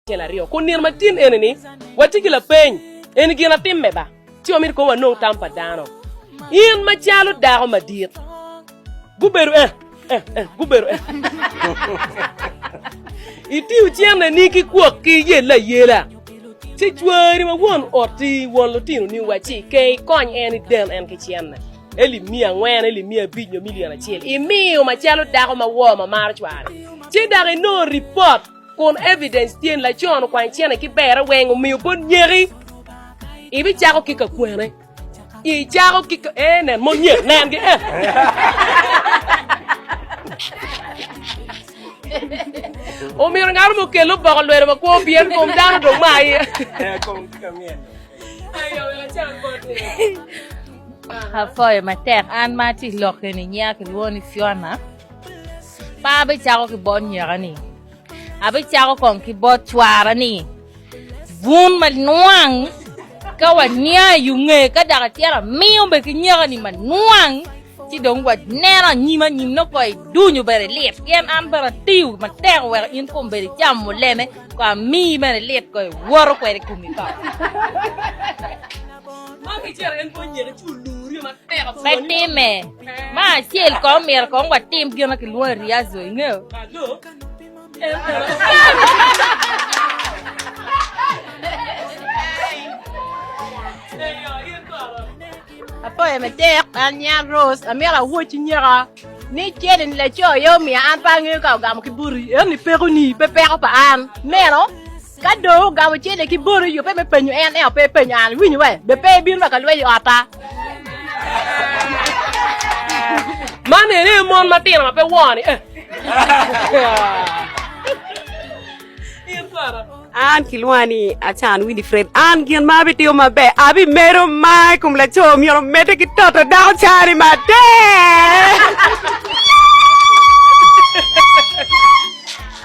Cel aryo. Kun nino matin eni-ni, watye ki lapeny, Eni gin atimme ba, ci wamito kong wanong tam pa dano? In macalo dako madit. Gubedo eh, eh, eh, gubedo eh. Itiyo cenneni ki kwok ki yelle ayela, ci cwari ma won otti, won lutinoni wa ci ike ikony en idel en ki cenne. Eli miya angwen, eli miya abic nyo milion acel. Imiyo macalo dako ma woo ma maro cware, ci dok inongo ripot. Kun evidence tye ni laco-ni okwanyo cene ki berre weng omiyo bot nyeki. Ibicako ki ka kwene. Icako ki ka... Eh, nen, mon nyek, nen gi, eh. Omyero ngaro mo kel oboko lwelo ma kwo pien kom dano dong ma aye. Apoyo matek an ma ati lok eni nyiya kilwongo ni Fiona. Pa abicako ki bot nyeka-ni, abicako kong ki bot cwara-ni, bun manwang ka waniang i unge ka dok atyero amiyo be ki nyeka-ni manwang ci dong waneno anyim anyim no koi duny obedo lit pien an bene atiyo matek wek in kom bedo icamo mulene kong amiyi bene lit koi iwoto kwede i komi kong. Pe time. Ma acel kong myero kong watim gin ma kilwongo i riazo, ingeyo? Apoyo me dek an nyan Rose amyero awoc nyeka ni cel ni laco aye omiyo an pe angeyo ka ogamo ki buti eno ni peko ni pe peko pa an meno Ka dong ogamo cente ki bor oyubbe me penyo en, ento pe epenyo an. Iwinyo be? Be pe ibino rwako lweny i otta? Man ene aye mon matino ma pe woo-ni. Eh. An kilwonga ni Acan Winifred. An gin ma abitiyo maber, abimedo mar i kom laco myero omedde ki toto dako cani matek.